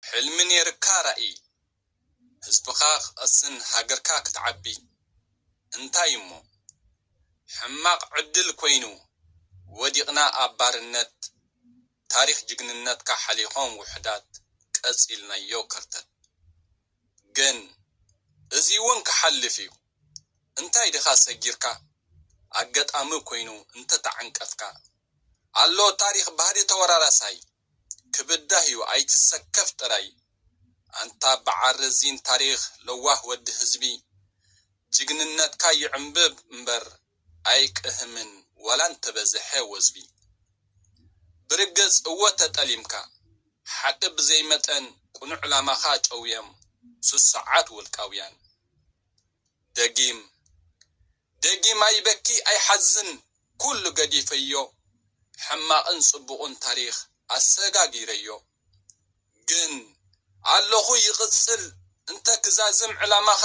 ሕልሚ ኔርካ ራኢ ህዝብኻ ክቀስን ሃገርካ ክትዓቢ እንታይ እሞ ሕማቅ ዕድል ኮይኑ ወዲቅና ኣብ ባርነት ታሪኽ ጅግንነትካ ሓሊኾም ውሕዳት ቀጺልናዮ ከርተት ግን እዚ ውን ክሓልፍ እዩ እንታይ ድኻ ሰጊርካ ኣገጣሚ ኮይኑ እንተተዓንቀፍካ ኣሎ ታሪኽ ባህሊ ተወራራሳይ ክብዳህ ዩ ኣይትሰከፍ ጥራይ። ኣንታ በዓል ረዚን ታሪኽ ለዋህ ወዲ ህዝቢ ጅግንነትካ ይዕምብብ እምበር ኣይቅህምን ዋላ እንተበዝሐ ወዝቢ። ብርግጽ እወ ተጠሊምካ ሓቒ ብዘይ መጠን ቅኑዕ ዕላማኻ ጨውዮም ስሱዓት ውልቃውያን። ደጊም። ደጊም ኣይበኪ ኣይሓዝን ኩሉ ገዲፈዮ ሕማቅን ጽቡቁን ታሪኽ ኣሰጋጊረዮ ግን ኣለኹ ይቅጽል እንተ ክዛዝም ዕላማኻ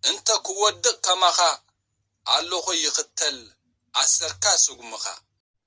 እንተ ክወድቅ ከማኻ ኣለኹ ይኽተል ኣሰርካ ስጉምኻ።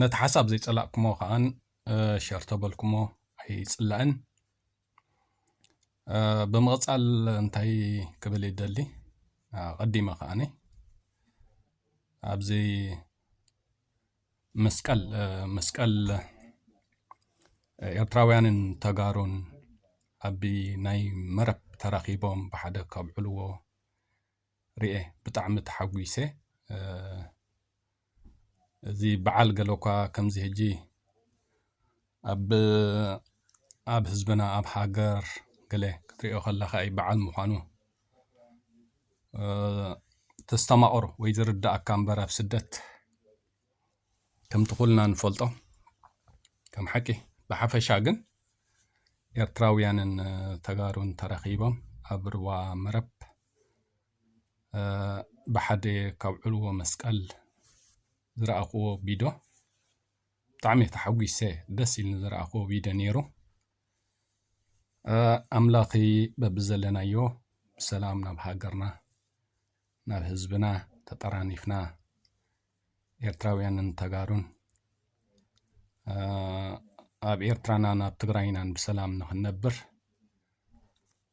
ነቲ ሓሳብ ዘይጸላእኩሞ ከኣን ሸር ተበልኩሞ ኣይጽላእን ብምቕጻል እንታይ ክብል ይደሊ ቀዲመ ከኣኒ ኣብዚ መስቀል መስቀል ኤርትራውያንን ተጋሩን ኣብ ናይ መረብ ተራኺቦም ብሓደ ከብዕልዎ ርኤ ብጣዕሚ ተሓጒሰ እዚ በዓል ገለ እኳ ከምዚ ሕጂ ኣብ ኣብ ህዝብና ኣብ ሃገር ገለ ክትሪኦ ከለካ እዩ በዓል ምዃኑ ተስተማቕሮ ወይ ዝርዳእካ እምበር ኣብ ስደት ከምቲ ኩልና ንፈልጦ ከም ሓቂ ብሓፈሻ ግን ኤርትራውያንን ተጋሩን ተረኺቦም ኣብ ርዋ መረብ ብሓደ ካብ ዕልዎ መስቀል ዝረኣኹዎ ቪድዮ ብጣዕሚ ተሓጒሰ ደስ ኢሉኒ ዝረኣኹዎ ቪድዮ ነይሩ። ኣምላኽ በብዘለናዮ ብሰላም ናብ ሃገርና ናብ ህዝብና ተጠራኒፍና ኤርትራውያንን ተጋሩን ኣብ ኤርትራና ናብ ትግራይናን ብሰላም ንኽንነብር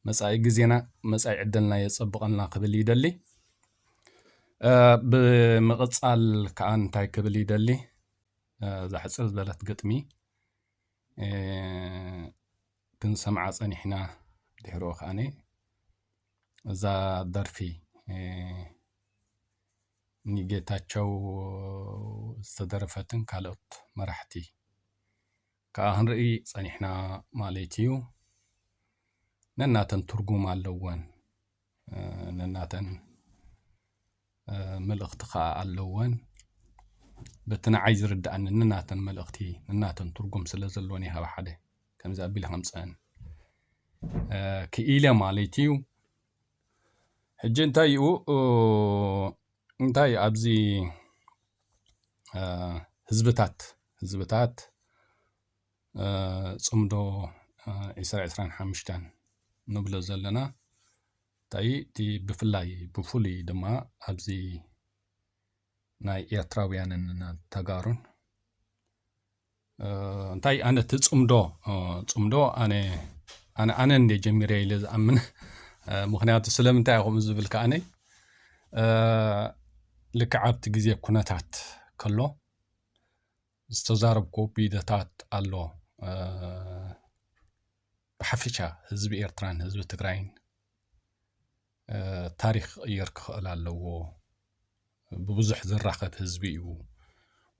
መጻኢ ግዜና መጻኢ ዕደልና የጸብቐልና ክብል ይደሊ። ብምቕጻል ከኣ እንታይ ክብል ይደሊ እዛ ሕጽር ዝበለት ግጥሚ ክንሰምዓ ጸኒሕና ድሕሮ ከኣነ እዛ ደርፊ ንጌታቸው ዝተደረፈትን ካልኦት መራሕቲ ከኣ ክንርኢ ጸኒሕና ማለት እዩ። ነናተን ትርጉም ኣለወን፣ ነናተን መልእኽቲ ከኣ ኣለወን። በቲ ንዓይ ዝርድኣኒ ነናተን መልእኽቲ ነናተን ትርጉም ስለ ዘለወን እየ ካብ ሓደ ከምዚ ኣቢለ ከምፀአን ክኢለ ማለት እዩ። ሕጂ እንታይ እዩ እንታይ ኣብዚ ህዝብታት ህዝብታት ፅምዶ ዕስራ ዕስራን ሓሙሽተን ንብሎ ዘለና እንታይ እቲ ብፍላይ ብፍሉይ ድማ ኣብዚ ናይ ኤርትራውያንን ተጋሩን እንታይ ኣነ እቲ ፅምዶ ፅምዶ ኣነ ኣነ ኣነ እንደ ጀሚረ ኢለ ዝኣምን ምክንያቱ ስለምንታይ ከምኡ ዝብል ከኣነ ልክዕ ኣብቲ ግዜ ኩነታት ከሎ ዝተዛረብኩ ቢደታት ኣሎ ብሓፈሻ ህዝቢ ኤርትራን ህዝቢ ትግራይን ታሪኽ ክቕየር ክኽእል ኣለዎ ብብዙሕ ዝራኸብ ህዝቢ እዩ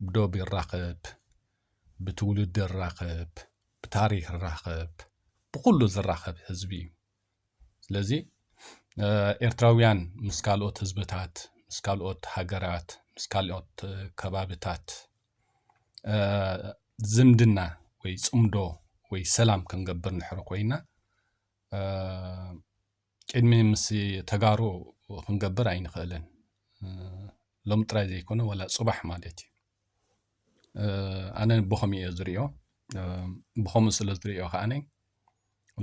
ብዶብ ይራኸብ ብትውልዲ ይራኸብ ብታሪኽ ይራኸብ ብኩሉ ዝራኸብ ህዝቢ እዩ ስለዚ ኤርትራውያን ምስ ካልኦት ህዝብታት ምስ ካልኦት ሃገራት ምስ ካልኦት ከባብታት ዝምድና ወይ ፅምዶ ወይ ሰላም ክንገብር ንሕሪ ኮይና ቅድሚ ምስ ተጋሩ ክንገብር ኣይንኽእልን ሎም ጥራይ ዘይኮነ ዋላ ፅባሕ ማለት እዩ ኣነ ብኸምኡ እየ ዝሪኦ ብኸምኡ ስለ ዝሪኦ ከዓነ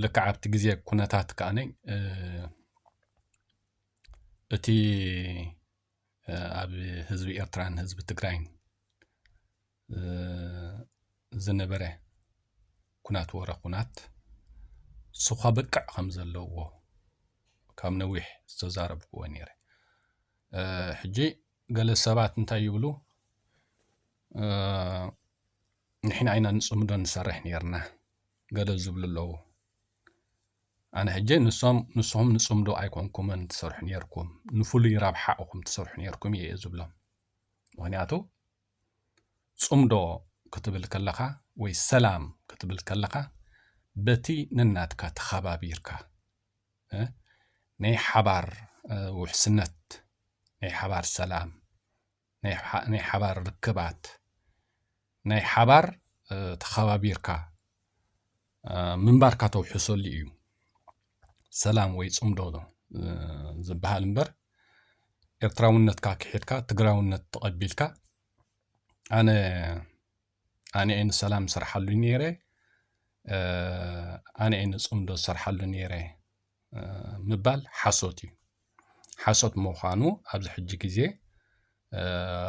ልክዕ ኣብቲ ግዜ ኩነታት ከዓነ እቲ ኣብ ህዝቢ ኤርትራን ህዝቢ ትግራይን ዝነበረ ኩናት ወረ ኩናት ስኳ በቅዕ ከም ዘለዎ ካብ ነዊሕ ዝተዛረብክዎ ነይረ ሕጂ ገለ ሰባት እንታይ ይብሉ ንሕና ኢና ንፅምዶ ንሰርሕ ነርና ገለ ዝብሉ ኣለዉ ኣነ ሕጂ ንሶም ንስኹም ንፅምዶ ኣይኮንኩምን ትሰርሑ ነርኩም ንፍሉይ ረብሓ እኹም ትሰርሑ ነርኩም እየ ዝብሎም ምክንያቱ ጽምዶ ክትብል ከለኻ ወይ ሰላም ክትብል ከለኻ በቲ ነናትካ ተኸባቢርካ ናይ ሓባር ውሕስነት ናይ ሓባር ሰላም ናይ ሓባር ርክባት ናይ ሓባር ተኸባቢርካ ምንባርካ ተውሕሰሉ እዩ ሰላም ወይ ጽምዶ ዝበሃል እምበር ኤርትራውነትካ ክሒድካ ትግራውነት ተቐቢልካ ኣነ ኣነ እየ ንሰላም ዝሰርሓሉ ነይረ ኣነ እየ ንፅምዶ ዝሰርሓሉ ነይረ ምባል ሓሶት እዩ ሓሶት ምዃኑ ኣብዚ ሕጂ ግዜ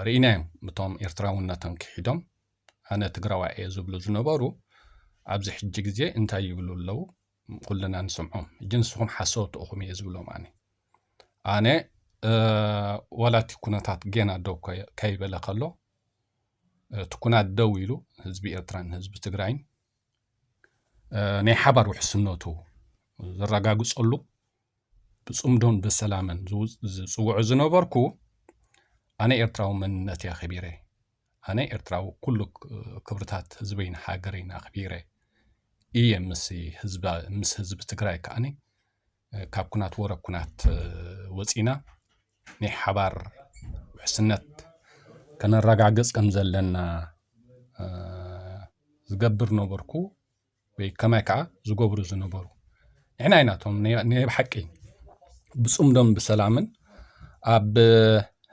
ርኢናዮም እቶም ኤርትራውነቶም ክሒዶም ኣነ ትግራዋይ እየ ዝብሉ ዝነበሩ ኣብዚ ሕጂ ግዜ እንታይ ይብሉ ኣለው ኩልና ንስምዖም እጂ ንስኹም ሓሰውቲ እኹም እየ ዝብሎም ኣነ ኣነ ዋላ እቲ ኩነታት ጌና ደው ከይበለ ከሎ እቲ ኩናት ደው ኢሉ ህዝቢ ኤርትራን ህዝቢ ትግራይን ናይ ሓባር ውሕስነቱ ዘረጋግጸሉ ብጽምዶን ብሰላምን ዝጽውዑ ዝነበርኩ ኣነ ኤርትራዊ መንነት እየ ኣኸቢረ ኣነ ኤርትራዊ ኩሉ ክብርታት ህዝበይን ሃገረይን ኣኽቢረ እየ ምስ ህዝቢ ትግራይ ከዓኒ ካብ ኩናት ወረ ኩናት ወፂና ናይ ሓባር ውሕስነት ከነረጋግፅ ከም ዘለና ዝገብር ነበርኩ። ወይ ከማይ ከዓ ዝገብሩ ዝነበሩ ንሕና ኢና እቶም ናይ ብሓቂ ብፅምዶን ብሰላምን ኣብ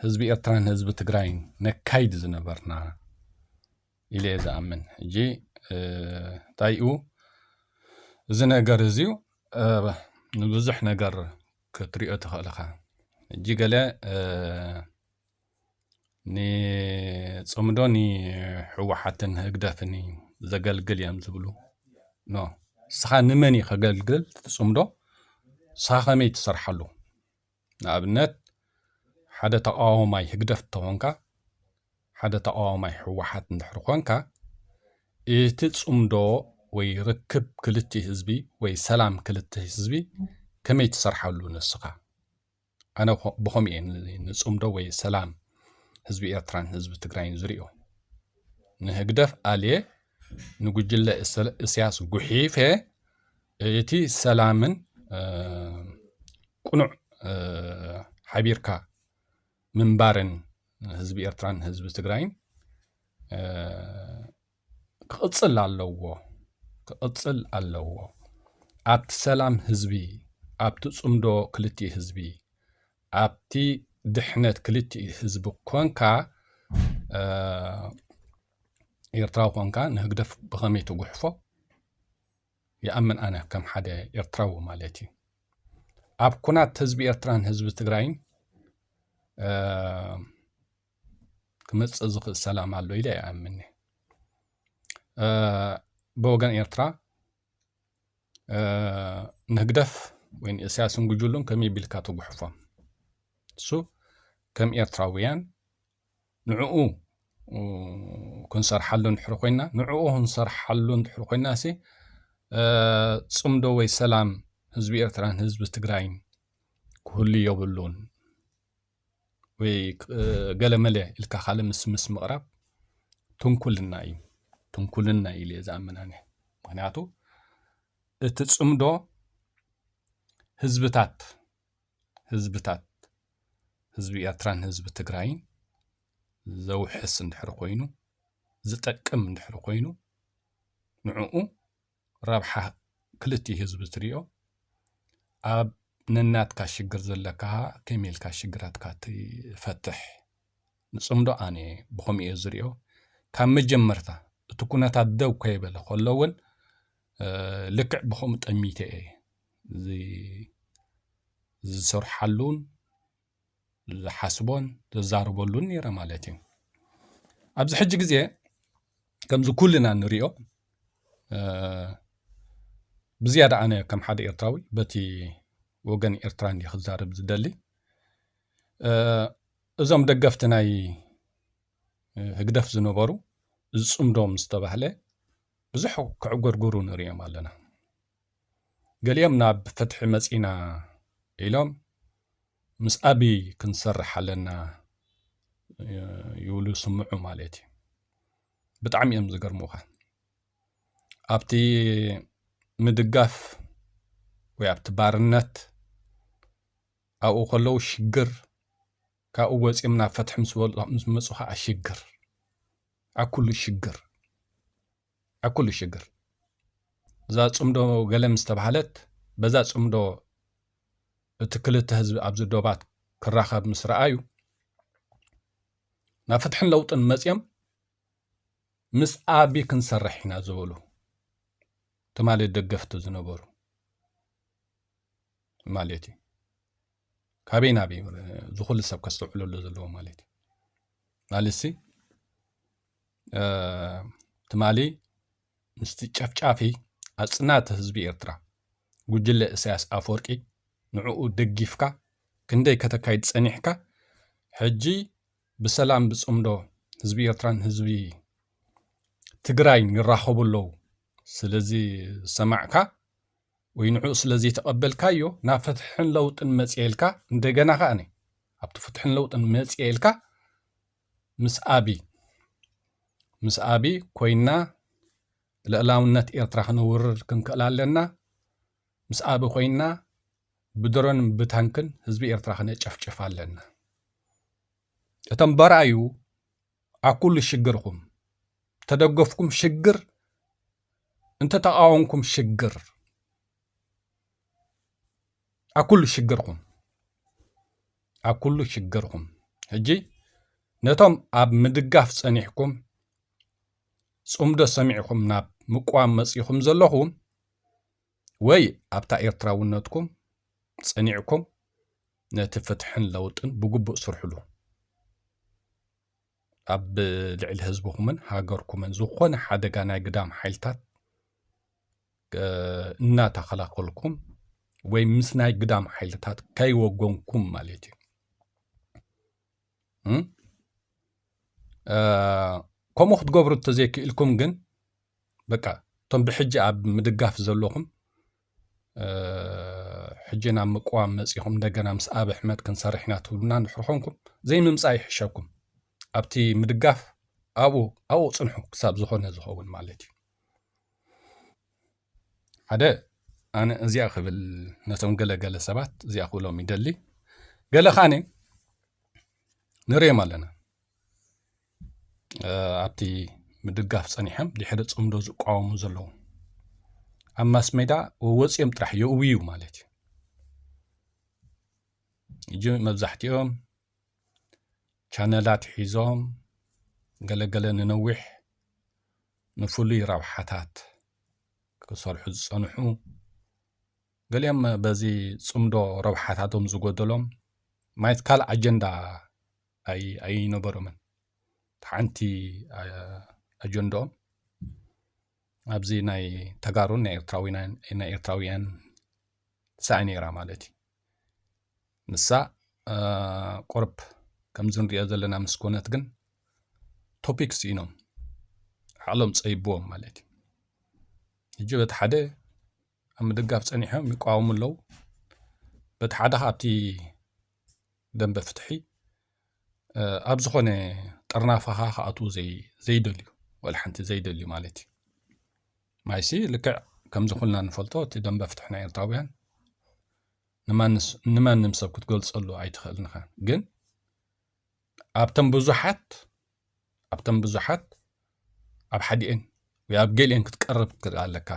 ህዝቢ ኤርትራን ህዝቢ ትግራይን ነካይድ ዝነበርና ኢለ እየ ዝኣምን ሕጂ እንታይ እዩ እዚ ነገር እዚዩ ንብዙሕ ነገር ክትሪኦ ትኽእል ኢኻ ሕጂ ገለ ንፅምዶ ንሕወሓትን ህግደፍን እዩ ዘገልግል እዮም ዝብሉ ኖ ንስኻ ንመን እዩ ከገልግል እቲ ፅምዶ ንስኻ ከመይ ትሰርሓሉ ንኣብነት ሓደ ተቃዋማይ ህግደፍ እንተኾንካ ሓደ ተቃዋማይ ህወሓት እንድሕር ኮንካ እቲ ፅምዶ ወይ ርክብ ክልቲኡ ህዝቢ ወይ ሰላም ክልተ ህዝቢ ከመይ ትሰርሓሉ ንስኻ? ኣነ ብኸምኡ እየ ንፅምዶ ወይ ሰላም ህዝቢ ኤርትራን ህዝቢ ትግራይን ዝሪኦ ንህግደፍ ኣልየ ንጉጅለ እስያስ ጉሒፈ እቲ ሰላምን ቅኑዕ ሓቢርካ ምንባርን ህዝቢ ኤርትራን ህዝቢ ትግራይን ክቕጽል ኣለዎ ክቕጽል ኣለዎ ኣብቲ ሰላም ህዝቢ ኣብቲ ጽምዶ ክልቲኡ ህዝቢ ኣብቲ ድሕነት ክልቲኡ ህዝቢ ኮንካ ኤርትራዊ ኮንካ ንህግደፍ ብኸመይ ትጉሕፎ ይኣምን ኣነ ከም ሓደ ኤርትራዊ ማለት እዩ ኣብ ኩናት ህዝቢ ኤርትራን ህዝቢ ትግራይን ክመፅእ ዝኽእል ሰላም ኣሎ ኢለ ኣይኣምን ብወገን ኤርትራ ንህግደፍ ወይ ንእስያስን ጉጅሉን ከመይ ቢልካ ትጉሕፎም እሱ ከም ኤርትራውያን ንዕኡ ክንሰርሓሉ እንድሕር ኮይና ንዕኡ ክንሰርሓሉ እንድሕር ኮይና ሲ ፅምዶ ወይ ሰላም ህዝቢ ኤርትራን ህዝቢ ትግራይን ክህሉ የብሉን ወይ ገለመለ ኢልካ ካለ ምስምስ ምቕራብ ትንኩልና እዩ ትንኩልና ኢል እየ ዝኣምናኒ ምክንያቱ እቲ ፅምዶ ህዝብታት ህዝብታት ህዝቢ ኤርትራን ህዝቢ ትግራይን ዘውሕስ እንድሕር ኮይኑ ዝጠቅም እንድሕር ኮይኑ ንዕኡ ረብሓ ክልቲኡ ህዝቢ ትሪኦ ኣብ ነናትካ ሽግር ዘለካ ከመይ ኢልካ ሽግራትካ ትፈትሕ ንፅምዶ ኣነ ብኸምኡ እየ ዝሪኦ ካብ መጀመርታ እቲ ኩነታት ደው ከይበለ ከሎ እውን ልክዕ ብከምኡ ጠሚተ እየ ዝሰርሓሉን ዝሓስቦን ዘዛርበሉን ነይረ ማለት እዩ ኣብዚ ሕጂ ግዜ ከምዚ ኩልና ንሪኦ ብዝያዳ ኣነ ከም ሓደ ኤርትራዊ በቲ ወገን ኤርትራ እንዲ ክዛርብ ዝደሊ እዞም ደገፍቲ ናይ ህግደፍ ዝነበሩ ዝፅምዶም ዝተባህለ ብዙሕ ክዕጎርጉሩ ንሪኦም ኣለና ገሊኦም ናብ ፍትሒ መጺእና ኢሎም ምስ ኣብይ ክንሰርሕ ኣለና ይብሉ ስምዑ ማለት እዩ ብጣዕሚ እዮም ዝገርሙኻ ኣብቲ ምድጋፍ ወይ ኣብቲ ባርነት ኣብኡ ከለዉ ሽግር ካብኡ ወፂኦም ናብ ፍትሒ ምስ መፁ ከዓ ሽግር ኣብ ኩሉ ሽግር ኣብ ኩሉ ሽግር እዛ ፅምዶ ገለ ምስ ተባህለት በዛ ፅምዶ እቲ ክልተ ህዝቢ ኣብዚ ዶባት ክራኸብ ምስ ረኣዩ ናብ ፍትሕን ለውጥን መፅኦም ምስ ኣቢ ክንሰርሕ ኢና ዝበሉ ትማሊ ደገፍቲ ዝነበሩ ማለት እዩ ካበይ ናበይ ዝኹሉ ሰብ ከስተውዕለሉ ዘለዎ ማለት እዩ ማለትሲ ትማሊ ምስቲ ጨፍጫፊ ኣጽናቲ ህዝቢ ኤርትራ ጉጅለ እሳያስ ኣፈወርቂ ንዕኡ ደጊፍካ ክንደይ ከተካይድ ጸኒሕካ ሕጂ ብሰላም ብጽምዶ ህዝቢ ኤርትራን ህዝቢ ትግራይን ይራኸቡ ኣለዉ ስለዚ ሰማዕካ ወይ ንዕኡ ስለዘይተቐበልካዮ ናብ ፍትሕን ለውጥን መጽኤልካ እንደገና ከኣኒ ኣብቲ ፍትሕን ለውጥን መጽኤልካ ምስ ኣቢ ምስ ኣቢ ኮይና ልእላውነት ኤርትራ ክነውርር ክንክእል ኣለና ምስ ኣቢ ኮይና ብድሮን ብታንክን ህዝቢ ኤርትራ ክነጨፍጭፍ ኣለና እቶም በራዩ ኣኩሉ ሽግርኩም ተደገፍኩም ሽግር እንተ ተቃወምኩም ሽግር ኣኩሉ ሽግርኩም ኣኩሉ ሽግርኩም ሕጂ ነቶም ኣብ ምድጋፍ ጸኒሕኩም ጽምዶ ሰሚዕኹም ናብ ምቋም መጺኹም ዘለኹም ወይ ኣብታ ኤርትራውነትኩም ጸኒዕኩም ነቲ ፍትሕን ለውጥን ብግቡእ ስርሕሉ ኣብ ልዕሊ ህዝብኹምን ሃገርኩምን ዝኾነ ሓደጋ ናይ ግዳም ሓይልታት እናተኸላኸልኩም ወይ ምስ ናይ ግዳም ሓይልታት ከይወገንኩም ማለት እዩ ከምኡ ክትገብሩ እተዘይክኢልኩም ግን በቃ እቶም ብሕጂ ኣብ ምድጋፍ ዘለኹም ሕጂ ናብ ምቅዋም መፂኹም እንደገና ምስ ኣብ ኣሕመድ ክንሰርሕ ኢና ትብሉና እንድሕር ኮንኩም ዘይምምፃእ ይሕሸኩም ኣብቲ ምድጋፍ ኣብኡ ኣብኡ ፅንሑ ክሳብ ዝኾነ ዝኸውን ማለት እዩ ሓደ ኣነ እዚኣ ክብል ነቶም ገለገለ ሰባት እዚኣ ክብሎም ይደሊ ገለ ካነ ንሪኦም ኣለና ኣብቲ ምድጋፍ ጸኒሖም ድሕሪ ጽምዶ ዝቋወሙ ዘለዉ ኣብ ማስሜዳ ወወፅኦም ጥራሕ የእውዩ ማለት እዩ እጂ መብዛሕትኦም ቻነላት ሒዞም ገለገለ ንነዊሕ ንፍሉይ ረብሓታት ክሰርሑ ዝፀንሑ ገሊኦም በዚ ፅምዶ ረብሓታቶም ዝጎደሎም ማየት ካልእ ኣጀንዳ ኣይነበሮምን ሓንቲ ኣጀንድኦም ኣብዚ ናይ ተጋሩን ናይ ኤርትራውያን ሳኢ ነይራ ማለት እዩ ንሳ ቁርብ ከምዚ ንሪኦ ዘለና ምስ ኮነት ግን ቶፒክ ስኢኖም ዓቕሎም ፀይብዎም ማለት እዩ ሕጂ በቲ ሓደ ኣብ ምድጋፍ ፀኒሖም ይቃወሙ ኣለዉ በቲ ሓደ ካብቲ ደንበ ፍትሒ ኣብ ዝኾነ ጠርናፋኻ ክኣትዉ ዘይደልዩ ወላ ሓንቲ ዘይደልዩ ማለት እዩ ማይሲ ልክዕ ከምዚ ኩልና ንፈልጦ እቲ ደንበ ፍትሒ ናይ ኤርትራውያን ንማንም ሰብ ክትገልጸሉ ኣይትኽእልንኻ ግን ኣብተን ብዙሓት ኣብተን ብዙሓት ኣብ ሓዲኤን ወይ ኣብ ገሊኤን ክትቀርብ ትክእል ኣለካ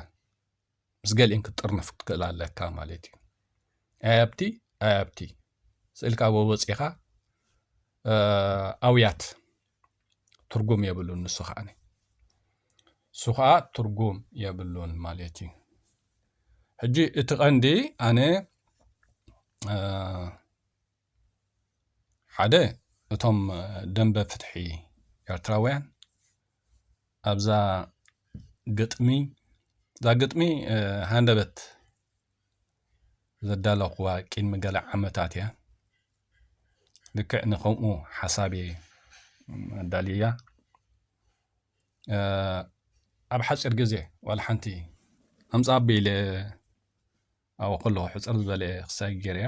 ምስ ገሊኤን ክትጥርነፍ ክትክእል ኣለካ ማለት እዩ ኣያብቲ ኣያብቲ ስእልካ ወወፂኻ ኣውያት ትርጉም የብሉን ንሱ ከዓ ንሱ ከዓ ትርጉም የብሉን ማለት እዩ ሕጂ እቲ ቀንዲ ኣነ ሓደ እቶም ደምበ ፍትሒ ኤርትራውያን ኣብዛ ግጥሚ እዛ ግጥሚ ሃንደበት ዘዳለኹዋ ቅድሚ ገለ ዓመታት እያ ልክዕ ንከምኡ ሓሳብ እየ ኣዳልያ ኣብ ሓፂር ግዜ ዋላ ሓንቲ ኣምፃ ኣቢለ ኣብኡ ከለኹ ሕፅር ዝበለ ክሳይ ገይረያ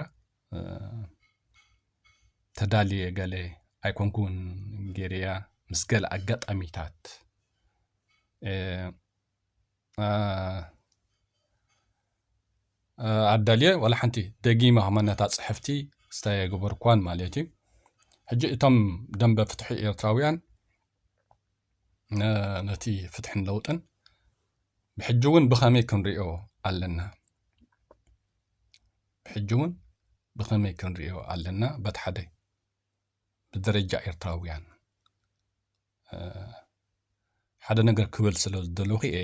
ተዳልየ ገለ ኣይኮንኩን ገይረያ ምስ ገለ ኣጋጣሚታት ኣዳልየ ዋላ ሓንቲ ደጊመ ከመነታ ፅሕፍቲ ስታይ ኣይገበርኳን ማለት እዩ ሕጂ እቶም ደንበ ፍትሒ ኤርትራውያን ነቲ ፍትሕን ለውጥን ብሕጂ እውን ብኸመይ ክንሪኦ ኣለና ብሕጂ እውን ብኸመይ ክንሪኦ ኣለና በት ሓደ ብደረጃ ኤርትራውያን ሓደ ነገር ክብል ስለ ዝደለኹ እየ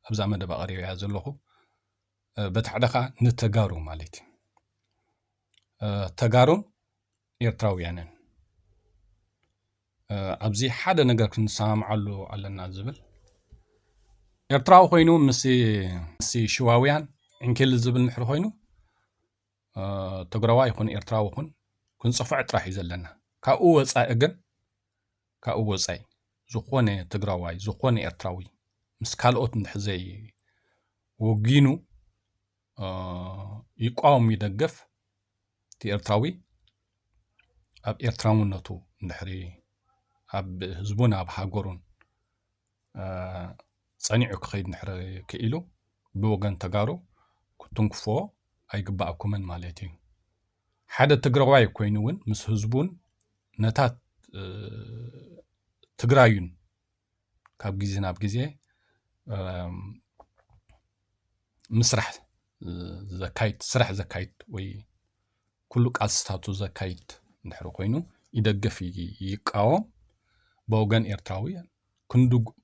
ኣብዛ መደብ ኣቕሪበ እያ ዘለኹ በቲ ሓደ ከዓ ንተጋሩ ማለት እዩ ተጋሩን ኤርትራውያንን ኣብዚ ሓደ ነገር ክንሰማምዓሉ ኣለና ዝብል ኤርትራዊ ኮይኑ ምስ ሽዋውያን ዕንኪል ዝብል ንሕሪ ኮይኑ ትግራዋ ይኹን ኤርትራዊ ይኹን ክንፅፍዕ ጥራሕ እዩ ዘለና ካብኡ ወፃኢ ግን ካብኡ ወፃኢ ዝኾነ ትግራዋይ ዝኾነ ኤርትራዊ ምስ ካልኦት እንድሕዘይ ወጊኑ ይቋወም ይደገፍ እቲ ኤርትራዊ ኣብ ኤርትራውነቱ እንድሕሪ ኣብ ህዝቡን ኣብ ሃገሩን ጸኒዑ ክኸይድ እንድሕሪ ክኢሉ ብወገን ተጋሩ ክትንክፎ ኣይግባኣኩምን ማለት እዩ ሓደ ትግራዋይ ኮይኑ እውን ምስ ህዝቡን ነታ ትግራዩን ካብ ግዜ ናብ ግዜ ምስራሕ ዘካይድ ስራሕ ዘካይድ ወይ ኩሉ ቃልስታቱ ዘካይድ እንድሕር ኮይኑ ይደግፍ ይቃወም ብወገን ኤርትራዊ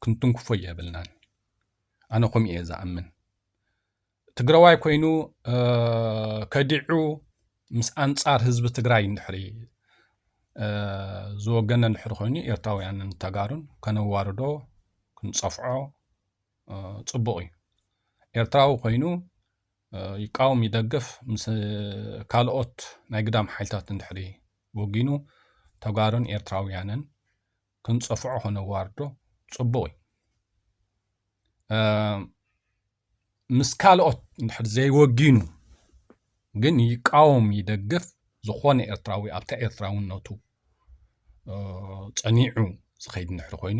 ክንትንክፎ የብልናን ኣነ ከምኡ እየ ዝኣምን ትግራዋይ ኮይኑ ከዲዑ ምስ ኣንጻር ህዝቢ ትግራይ እንድሕሪ ዝወገነ እንድሕሪ ኮይኑ ኤርትራውያንን ተጋሩን ከነዋርዶ ክንጸፍዖ ጽቡቕ እዩ ኤርትራዊ ኮይኑ ይቃወም ይደግፍ ምስ ካልኦት ናይ ግዳም ሓይልታት እንድሕሪ ወጊኑ ተጋሩን ኤርትራውያንን ክንጸፍዖ ከነዋርዶ ጽቡቕ እዩ ምስ ካልኦት እንድሕር ዘይወጊኑ ግን ይቃወም ይደግፍ ዝኾነ ኤርትራዊ ኣብታ ኤርትራውነቱ ጸኒዑ ዝኸይድ እንድሕር ኮይኑ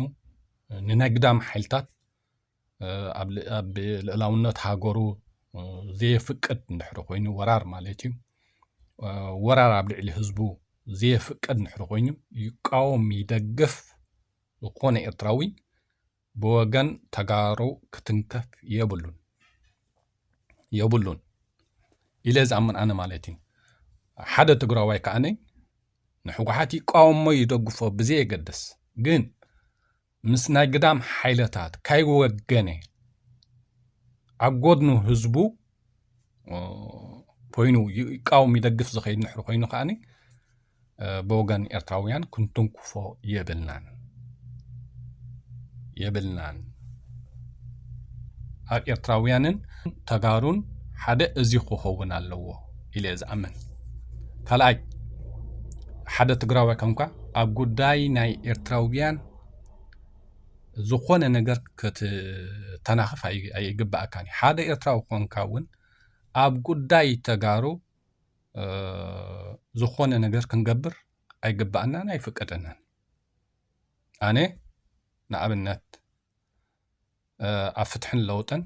ንነግዳም ሓይልታት ኣብ ልዕላውነት ሃገሩ ዘየፍቅድ እንድሕር ኮይኑ ወራር ማለት እዩ ወራር ኣብ ልዕሊ ህዝቡ ዘየፍቅድ እንድሕር ኮይኑ ይቃወም ይደግፍ ዝኾነ ኤርትራዊ ብወገን ተጋሩ ክትንከፍ የብሉን የብሉን ኢለ ዝኣምን ኣነ ማለት እዩ ሓደ ትግራዋይ ከዓኒ ንሕወሓት ይቃወሞ ይደግፎ ብዘየገድስ ግን ምስ ናይ ግዳም ሓይለታት ካይወገነ ኣብ ጎድኑ ህዝቡ ኮይኑ ይቃወም ይደግፍ ዝኸይድ ንሕሪ ኮይኑ ከዓኒ ብወገን ኤርትራውያን ክንትንኩፎ የብልናን የብልናን ኣብ ኤርትራውያንን ተጋሩን ሓደ እዚ ክኸውን ኣለዎ ኢለ ዝኣምን ካልኣይ ሓደ ትግራዋይ ከምካ ኣብ ጉዳይ ናይ ኤርትራውያን ዝኾነ ነገር ክትተናኽፍ ኣይግባኣካን እዩ። ሓደ ኤርትራዊ ኮንካ እውን ኣብ ጉዳይ ተጋሩ ዝኾነ ነገር ክንገብር ኣይግባኣናን ኣይፍቀደናን። ኣነ ንኣብነት ኣብ ፍትሕን ለውጥን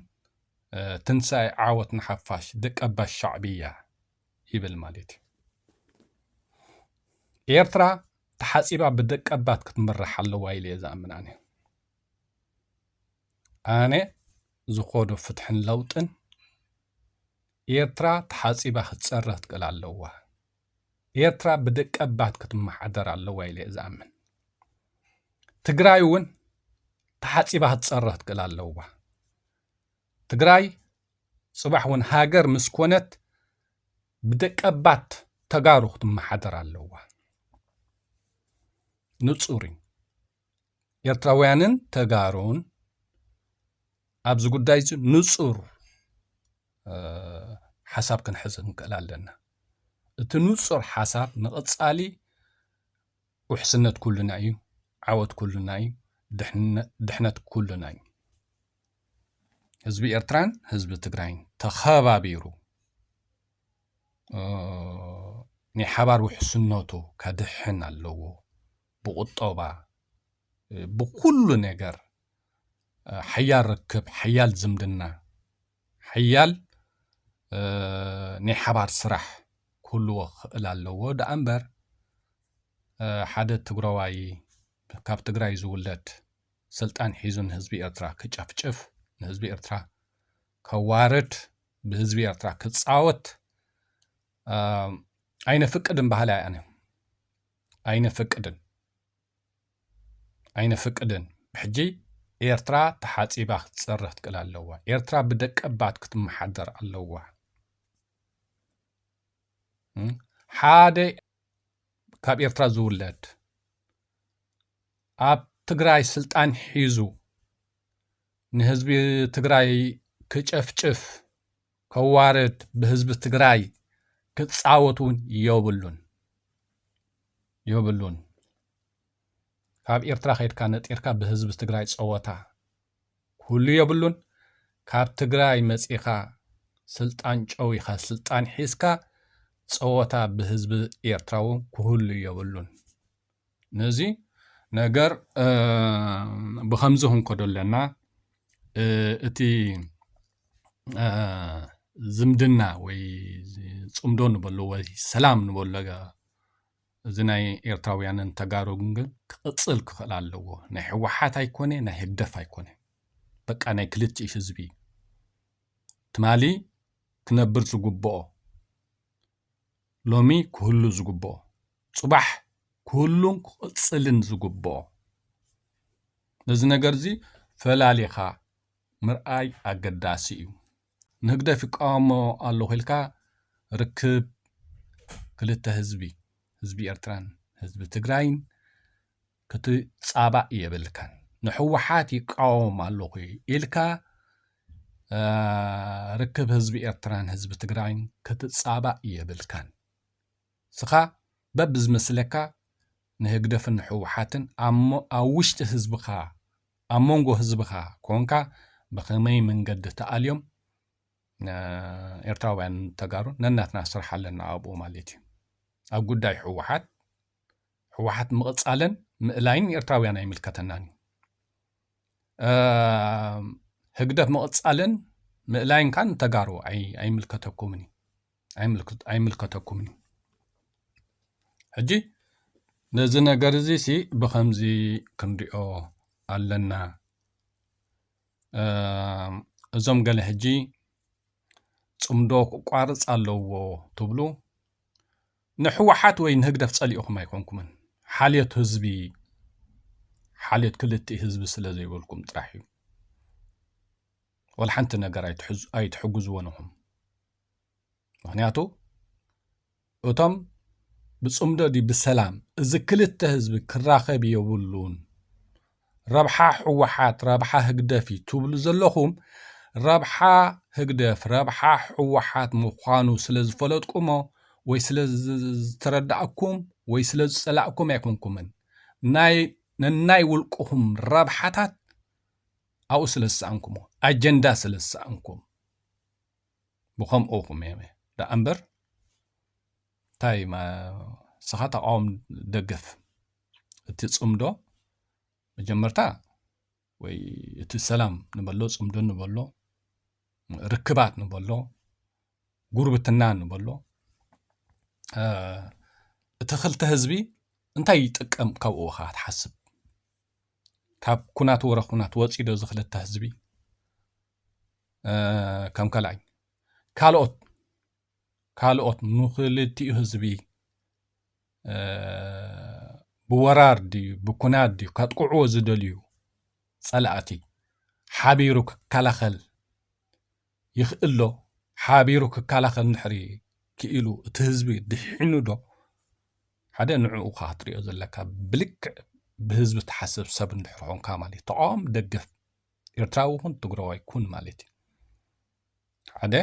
ትንሳኤ ዓወት ንሓፋሽ ደቀባት ሻዕብያ ይብል ማለት እዩ። ኤርትራ ተሓፂባ ብደቀባት ክትምራሕ ኣለዋ ኢለ እየ ዝኣምን ኣነ ኣነ ዝኾዶ ፍትሕን ለውጥን ኤርትራ ተሓፂባ ክትፀረ ክትክእል ኣለዋ ኤርትራ ብደቀባት ክትመሓደር ኣለዋ ኢለ እየ ዝኣምን ትግራይ እውን ተሓፂባ ክትፀረ ክትክእል ኣለዋ ትግራይ ፅባሕ እውን ሃገር ምስ ኮነት ብደቀባት ተጋሩ ክትመሓደር ኣለዋ። ንፁር እዩ። ኤርትራውያንን ተጋሩን ኣብዚ ጉዳይ እዚ ንፁር ሓሳብ ክንሕዝ ንክእል ኣለና። እቲ ንፁር ሓሳብ ንቐፃሊ ውሕስነት ኩልና እዩ፣ ዓወት ኩልና እዩ፣ ድሕነት ኩልና እዩ። ህዝቢ ኤርትራን ህዝቢ ትግራይን ተኸባቢሩ ናይ ሓባር ውሕስነቱ ከድሕን ኣለዎ። ብቁጠባ ብኩሉ ነገር ሓያል ርክብ፣ ሓያል ዝምድና፣ ሓያል ናይ ሓባር ስራሕ ክህልዎ ክኽእል ኣለዎ ደኣ እምበር ሓደ ትግራዋይ ካብ ትግራይ ዝውለድ ስልጣን ሒዙ ንህዝቢ ኤርትራ ክጨፍጭፍ ንህዝቢ ኤርትራ ከዋርድ ብህዝቢ ኤርትራ ክጻወት ኣይነፍቅድን ባህሊ ኣነ ኣይነፍቅድን ኣይነፍቅድን ብሕጂ ኤርትራ ተሓጺባ ክትጸርህ ትክእል ኣለዋ ኤርትራ ብደቀባት ክትመሓደር ኣለዋ ሓደ ካብ ኤርትራ ዝውለድ ኣብ ትግራይ ስልጣን ሒዙ ንህዝቢ ትግራይ ክጨፍጭፍ ከዋርድ ብህዝቢ ትግራይ ክፃወት እውን የብሉን የብሉን ካብ ኤርትራ ከይድካ ነጢርካ ብህዝቢ ትግራይ ፀወታ ኩሉ የብሉን ካብ ትግራይ መጺኻ ስልጣን ጨዊኻ ስልጣን ሒዝካ ጸወታ ብህዝቢ ኤርትራዊ ኩህሉ የብሉን ነዚ ነገር ብከምዚ ክንከዶ ኣለና እቲ ዝምድና ወይ ጽምዶ ንበሎ ወይ ሰላም ንበሎ እዚ ናይ ኤርትራውያንን ተጋሩን ግን ክቅጽል ክኽእል ኣለዎ ናይ ሕዋሓት ኣይኮኔ ናይ ህግደፍ ኣይኮነ በቃ ናይ ክልቲኡ ህዝቢ እዩ ትማሊ ክነብር ዝጉቦኦ ሎሚ ክህሉ ዝጉቦኦ ጽባሕ ክህሉን ክቅጽልን ዝጉቦኦ ነዚ ነገርዚ ፈላሊኻ ምርኣይ ኣገዳሲ እዩ ንህግደፍ ይቃወሞ ኣለኹ ኢልካ ርክብ ክልተ ህዝቢ ህዝቢ ኤርትራን ህዝቢ ትግራይን ክትጻባእ የብልካን ንሕወሓት ይቃወም ኣለኹ ኢልካ ርክብ ህዝቢ ኤርትራን ህዝቢ ትግራይን ክትጻባእ የብልካን ንስኻ በብዝመስለካ ንህግደፍን ንሕወሓትን ኣብ ውሽጢ ህዝብኻ ኣብ መንጎ ህዝብኻ ኮንካ ብኸመይ መንገዲ ተኣልዮም ኤርትራውያን ተጋሩ ነናትና ስራሕ ኣለና ኣብኡ ማለት እዩ ኣብ ጉዳይ ሕወሓት ሕወሓት ምቕፃልን ምእላይን ኤርትራውያን ኣይምልከተናን እዩ ህግደፍ ምቕፃልን ምእላይን ካን ተጋሩ ኣይምልከተኩምን እዩ ኣይምልከተኩምን እዩ ሕጂ ነዚ ነገር እዚ ሲ ብከምዚ ክንሪኦ ኣለና እዞም ገለ ሕጂ ፅምዶ ክቋርፅ ኣለዎ ትብሉ ንሕወሓት ወይ ንህግደፍ ፀሊእኹም ኣይኮንኩምን ሓልዮት ህዝቢ ሓልዮት ክልቲ ህዝቢ ስለ ዘይበልኩም ጥራሕ እዩ ወላ ሓንቲ ነገር ኣይትሕግዝዎን ኢኹም ምክንያቱ እቶም ብፅምዶ ድዩ ብሰላም እዚ ክልተ ህዝቢ ክራኸብ የብሉን ረብሓ ህወሓት ረብሓ ህግደፍ እዩ ትብሉ ዘለኹም ረብሓ ህግደፍ ረብሓ ህወሓት ምዃኑ ስለ ዝፈለጥኩሞ ወይ ስለ ዝተረዳእኩም ወይ ስለ ዝፀላእኩም ኣይኮንኩምን ናይ ነናይ ውልቅኹም ረብሓታት ኣብኡ ስለ ዝሰኣንኩሞ ኣጀንዳ ስለ ዝሰኣንኩም ብከምኡ ቁም እየ ደኣ እምበር እንታይ ንስኻ ተቃወም ደገፍ እቲ ፅምዶ መጀመርታ ወይ እቲ ሰላም ንበሎ ፅምዶ ንበሎ ርክባት ንበሎ ጉርብትና ንበሎ እቲ ክልተ ህዝቢ እንታይ ይጥቀም ካብኡ ካ ትሓስብ ካብ ኩናት ወረ ኩናት ወፂዶ እዚ ክልተ ህዝቢ ከም ካልኣይ ካልኦት ካልኦት ንክልቲኡ ህዝቢ ብወራር ድዩ ብኩናት ድዩ ከጥቅዕዎ ዝደልዩ ጸላእቲ ሓቢሩ ክከላኸል ይኽእልዶ ሓቢሩ ክከላኸል ንሕሪ ክኢሉ እቲ ህዝቢ ድሒኑ ዶ ሓደ ንዕኡ ካ ክትሪኦ ዘለካ ብልክዕ ብህዝቢ ትሓስብ ሰብ እንድሕር ኮንካ ማለት እዩ ተቃወም ደገፍ ኤርትራዊ ኩን ትግረዋይ ኩን ማለት እዩ ሓደ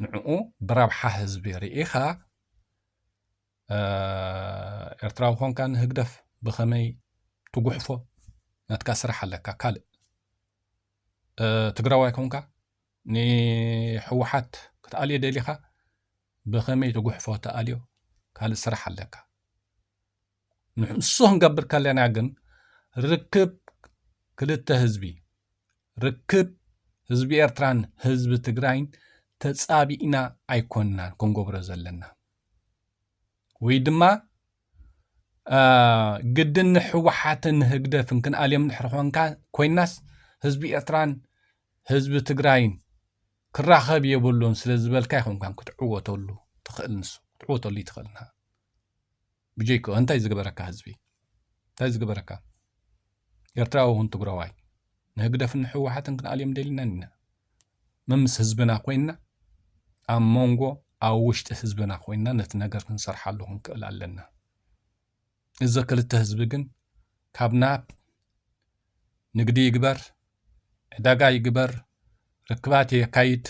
ንዕኡ ብረብሓ ህዝቢ ርኢኻ ኤርትራዊ ኮንካ ንህግደፍ ብኸመይ ትጉሕፎ ናትካ ስራሕ ኣለካ ካልእ ትግራዋይ ኮንካ ንሕወሓት ክትኣልዮ ደሊኻ ብኸመይ ትጉሕፎ ተኣልዮ ካልእ ስራሕ ኣለካ ንሱ ክንገብር ከለና ግን ርክብ ክልተ ህዝቢ ርክብ ህዝቢ ኤርትራን ህዝቢ ትግራይን ተጻቢእና ኣይኮንናን ክንገብሮ ዘለና ወይ ድማ ግድን ንሕወሓትን ንህግደፍን ክንኣልዮም ድሕሪ ኮንካ ኮይናስ ህዝቢ ኤርትራን ህዝቢ ትግራይን ክራኸብ የብሉን ስለ ዝበልካ ይኹንካን ክትዕወተሉ ትኽእል ንሱ ክትዕወተሉ ይትኽእልና ብጀይክኡ እንታይ ዝገበረካ ህዝቢ እንታይ ዝገበረካ ኤርትራዊ እውን ትግራዋይ ንህግደፍን ንሕወሓትን ክንኣልዮም ደሊናን ኢና መምስ ህዝብና ኮይንና ኣብ መንጎ ኣብ ውሽጢ ህዝብና ኮይንና ነቲ ነገር ክንሰርሓሉ ክንክእል ኣለና እዚ ክልተ ህዝቢ ግን ካብ ናብ ንግዲ ይግበር ዕዳጋ ይግበር ርክባት የካይድ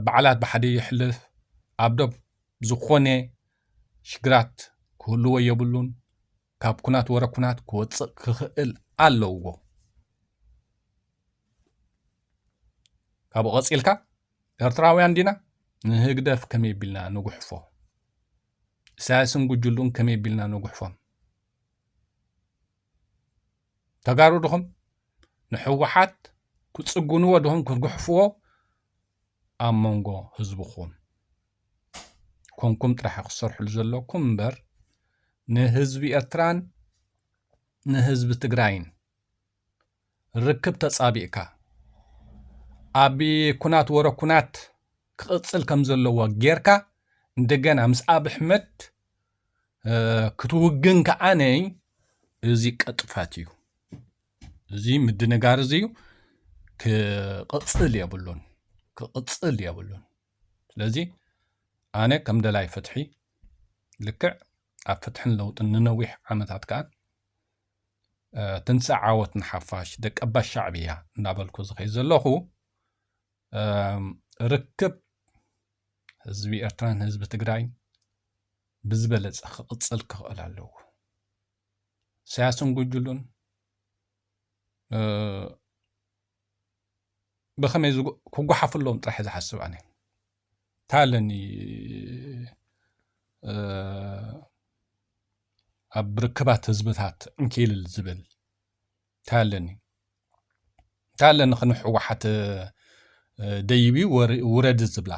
በዓላት ብሓደ የሕልፍ ኣብ ዶብ ዝኾነ ሽግራት ክህልዎ የብሉን ካብ ኩናት ወረ ኩናት ክወፅእ ክኽእል ኣለዎ ካብኡ ቐፂልካ ኤርትራውያን ዲና ንህግደፍ ከመይ ቢልና ንጉሕፎ ኢሳያስን ጉጅሉን ከመይ ቢልና ንጉሕፎም ተጋሩ ድኹም ንሕወሓት ክፅጉንዎ ድኹም ክግሕፍዎ ኣብ መንጎ ህዝብኹም ኮንኩም ጥራሕ ክሰርሕሉ ዘለኩም እምበር ንህዝቢ ኤርትራን ንህዝቢ ትግራይን ርክብ ተፃቢእካ ኣብ ኩናት ወረ ኩናት ክቕፅል ከም ዘለዎ ጌርካ እንደገና ምስ ኣብ ኣሕመድ ክትውግን ከዓ ነይ እዚ ቀጥፋት እዩ እዚ ምድንጋር እዚ እዩ ክቕፅል የብሉን ክቕፅል የብሉን ስለዚ ኣነ ከም ደላይ ፍትሒ ልክዕ ኣብ ፍትሕን ለውጥን ንነዊሕ ዓመታት ከዓ ትንሳእ ዓወት ንሓፋሽ ደቀባ ሻዕብያ እናበልኩ ዝኸይ ዘለኹ ርክብ ህዝቢ ኤርትራን ህዝቢ ትግራይ ብዝበለፀ ክቕፅል ክኽእል ኣለዎ። ኢሳያስን ጉጅሉን ብኸመይ ክጓሓፍሎም ጥራሕ ዝሓስብ ኣነ እንታይ ኣለኒ ኣብ ርክባት ህዝብታት እንኪልል ዝብል እንታይ ኣለኒ እንታይ ኣለኒ ክንሕወሓት ደይቢ ውረድ ዝብላ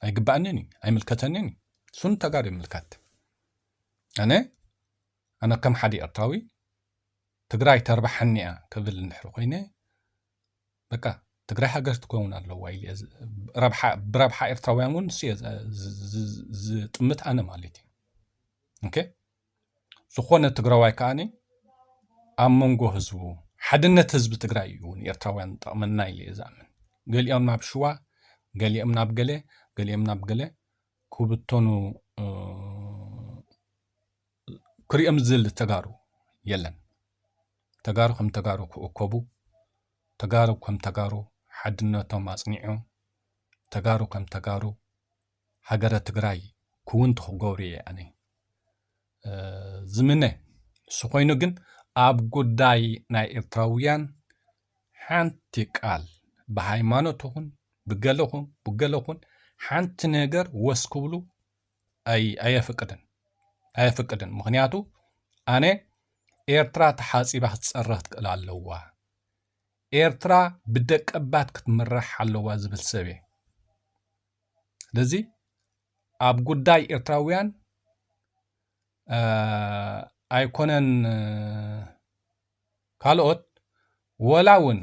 ኣይግባኣንን እዩ ኣይምልከተንን እዩ እሱ ንተጋሩ ይምልከት ኣነ ኣነ ከም ሓደ ኤርትራዊ ትግራይ ተርባሓኒ እያ ክብል እንድሕሪ ኮይነ በቃ ትግራይ ሃገር ትከውን ኣለዋ ኢለ ብረብሓ ኤርትራውያን እውን ንሱ እየ ዝጥምት ኣነ ማለት እዩ ዝኾነ ትግራዋይ ከዓኒ ኣብ መንጎ ህዝቡ ሓድነት ህዝቢ ትግራይ እዩ ንኤርትራውያን ጠቕመና ኢለ እየ ዝኣምን ገሊኦም ናብ ሽዋ ገሊኦም ናብ ገለ ገሊኦም ናብ ገለ ክብተኑ ክሪኦም ዝል ተጋሩ የለን ተጋሩ ከም ተጋሩ ክእከቡ ተጋሩ ከም ተጋሩ ሓድነቶም ኣፅኒዑ ተጋሩ ከም ተጋሩ ሃገረ ትግራይ ክውንቲ ክገብሩ እየ ኣነ ዝምነ። ንሱ ኮይኑ ግን ኣብ ጉዳይ ናይ ኤርትራውያን ሓንቲ ቃል ብሃይማኖት ኹን ብገለኹን ብገለኹን ሓንቲ ነገር ወስ ክብሉ ኣየፍቅድን ኣየፍቅድን። ምክንያቱ ኣነ ኤርትራ ተሓፂባ ክትፀረኽ ትክእል ኣለዋ ኤርትራ ብደቀባት ክትምራሕ ኣለዋ ዝብል ሰብ እየ። ስለዚ ኣብ ጉዳይ ኤርትራውያን ኣይኮነን ካልኦት ወላ እውን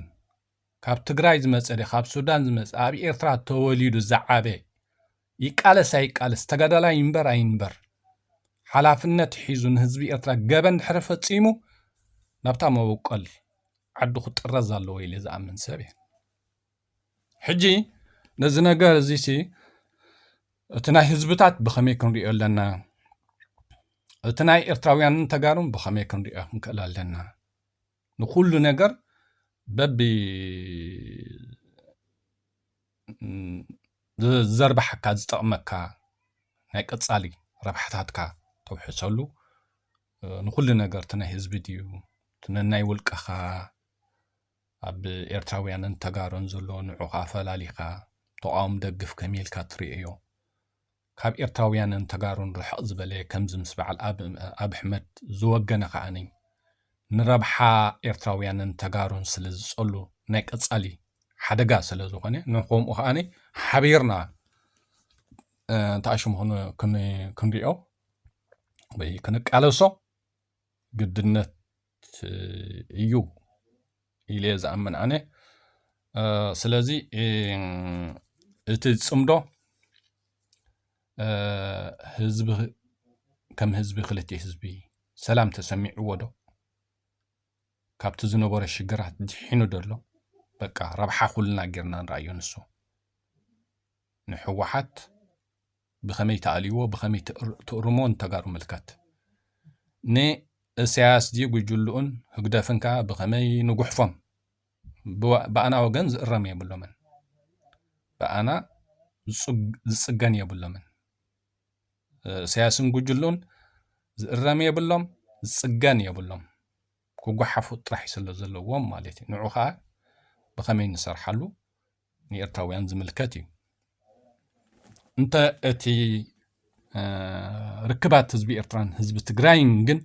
ካብ ትግራይ ዝመፀ ደ ካብ ሱዳን ዝመፀ ኣብ ኤርትራ ተወሊዱ ዝዓበ ይቃለስ ኣይቃለስ ተጋዳላይ ይንበር ኣይንበር ሓላፍነት ሒዙ ንህዝቢ ኤርትራ ገበን ድሕሪ ፈፂሙ ናብታ መበቆል ዓዱ ክጥረዝ ኣለዎ ኢለ ዝኣምን ሰብ እየ ሕጂ ነዚ ነገር እዚሲ እቲ ናይ ህዝብታት ብኸመይ ክንሪኦ ኣለና? እቲ ናይ ኤርትራውያንን ተጋሩን ብኸመይ ክንሪኦ ክንክእል ኣለና? ንኩሉ ነገር በቢ ዘርባሓካ ዝጠቕመካ ናይ ቀጻሊ ረብሓታትካ ተውሕሰሉ ንኩሉ ነገር እቲ ናይ ህዝቢ ድዩ እቲ ነናይ ውልቀኻ ኣብ ኤርትራውያንን ተጋሩን ዘሎ ንዑቅ ኣፈላሊካ ተቋውም ደግፍ ከመይ ኢልካ ትሪኦዮ ካብ ኤርትራውያንን ተጋሩን ርሕቅ ዝበለ ከምዚ ምስ በዓል ኣብሕመድ ዝወገነ ከኣ ንረብሓ ኤርትራውያንን ተጋሩን ስለ ዝጸሉ ናይ ቀጻሊ ሓደጋ ስለ ዝኾነ ንከምኡ ከኣ ሓቢርና ተኣሽሙ ክንሪኦ ወይ ክንቃለሶ ግድነት እዩ ኢለ እየ ዝኣምን ኣነ ስለዚ እቲ ዝፅምዶ ህዝቢ ከም ህዝቢ ክልት ህዝቢ ሰላም ተሰሚዕዎ ዶ ካብቲ ዝነበሮ ሽግራት ድሒኑ ደሎ በቃ ረብሓ ኩልና ጌርና ንርኣዮ ንሱ ንሕወሓት ብከመይ ትኣልይዎ ብከመይ ትእርምዎ ንተጋሩ ምልከት ን እሰያስ ን ጉጅልኡን ህግደፍን ከኣ ብከመይ ንጉሕፎም ብኣና ወገን ዝእረም የብሎምን ብኣና ዝጽገን የብሎምን እሰያስን ጉጅልኡን ዝእረም የብሎም ዝጽገን የብሎም ክጓሓፉ ጥራሕ ስለ ዘለዎም ማለት እዩ ንዑ ከኣ ብከመይ ንሰርሓሉ ንኤርትራውያን ዝምልከት እዩ። እንተ እቲ ርክባት ህዝቢ ኤርትራን ህዝቢ ትግራይን ግን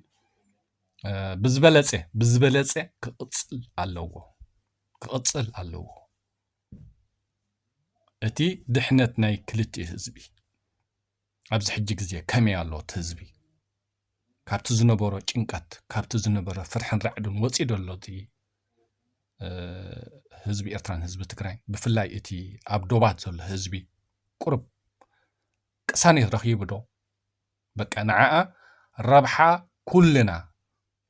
ብዝበለፀ ብዝበለፀ ክቕፅል ኣለዎ ክቕፅል ኣለዎ። እቲ ድሕነት ናይ ክልቲኡ ህዝቢ ኣብዚ ሕጂ ግዜ ከመይ ኣሎ እቲ ህዝቢ? ካብቲ ዝነበሮ ጭንቀት ካብቲ ዝነበረ ፍርሕን ራዕድን ወፂኡ ዶ ኣሎ እቲ ህዝቢ ኤርትራን ህዝቢ ትግራይን ብፍላይ እቲ ኣብ ዶባት ዘሎ ህዝቢ ቁርብ ቅሳኔት ረኺቡ ዶ በቃ ንዓኣ ረብሓ ኩልና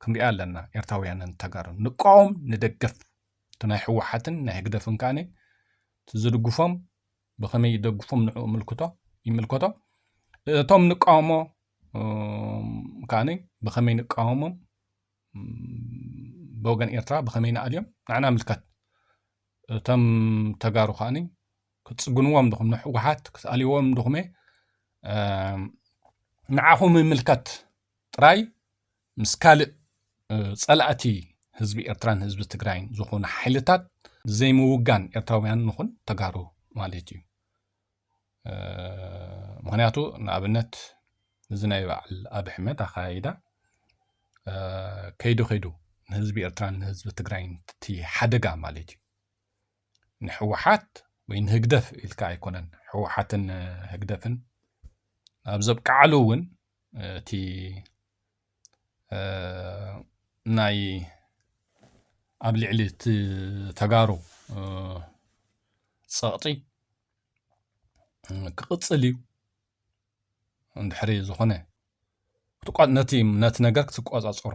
ክንሪኣ ኣለና ኤርትራውያንን ተጋሩን ንቃወም ንደገፍ እቲ ናይ ህወሓትን ናይ ህግደፍን ከኣነ እቲ ዝድግፎም ብኸመይ ይደግፎም ንዕኡ ምልክቶ ይምልከቶ እቶም ንቃወሞ ከዓ ብኸመይ ንቃወሞም ብወገን ኤርትራ ብኸመይ ንኣልዮም ንዕና ምልከት እቶም ተጋሩ ከዓ ክፅግንዎም ድኹም ንሕወሓት ክትኣልዎም ድኹመ ንዓኹም ይምልከት ጥራይ ምስ ካልእ ጸላእቲ ህዝቢ ኤርትራን ህዝቢ ትግራይን ዝኾኑ ሓይልታት ዘይምውጋን ኤርትራውያን ንኹን ተጋሩ ማለት እዩ ምክንያቱ ንኣብነት እዚ ናይ በዓል ኣብ ሕመት ኣኸያይዳ ከይዱ ከይዱ ንህዝቢ ኤርትራን ንህዝቢ ትግራይን እቲ ሓደጋ ማለት እዩ ንሕወሓት ወይ ንህግደፍ ኢልካ ኣይኮነን ሕወሓትን ህግደፍን ኣብ ዘብቅዓሉ እውን እቲ ናይ ኣብ ልዕሊ እቲ ተጋሩ ፀቕጢ ክቕፅል እዩ እንድሕሪ ዝኾነ ነቲ ነገር ክትቆፃፀሮ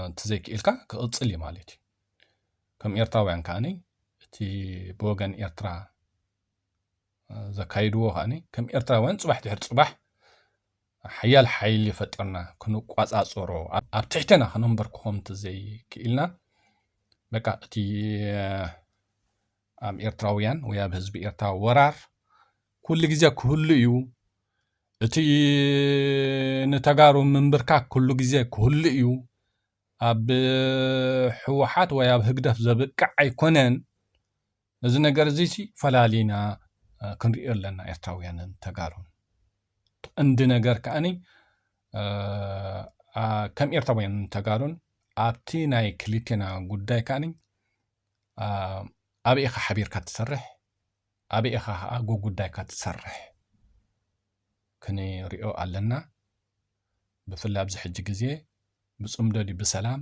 እንተዘይክኢልካ ክቕፅል እዩ ማለት እዩ ከም ኤርትራውያን ከዓኒ እቲ ብወገን ኤርትራ ዘካይድዎ ከኣ ከም ኤርትራውያን ጽባሕ ድሕሪ ጽባሕ ሓያል ሓይሊ ፈጠርና ክንቋጻጸሮ ኣብ ትሕተና ክነንበርክኾም እንተዘይክኢልና በቃ እቲ ኣብ ኤርትራውያን ወይ ኣብ ህዝቢ ኤርትራ ወራር ኩሉ ግዜ ክህሉ እዩ እቲ ንተጋሩ ምንብርካክ ኩሉ ግዜ ክህሉ እዩ ኣብ ሕወሓት ወይ ኣብ ህግደፍ ዘብቅዕ ኣይኮነን ነዚ ነገር እዚ ሲ ፈላሊና ክንሪኦ ኣለና ኤርትራውያንን ተጋሩን እንዲ ነገር ከኣኒ ከም ኤርትራውያንን ተጋሩን ኣብቲ ናይ ክልቴና ጉዳይ ከኣኒ ኣበይ ኢኻ ሓቢርካ ትሰርሕ ኣበይ ኢኻ ከዓ ጉጉዳይካ ትሰርሕ ክንሪኦ ኣለና ብፍላይ ኣብዚ ሕጂ ግዜ ብፅምዶ ድዩ ብሰላም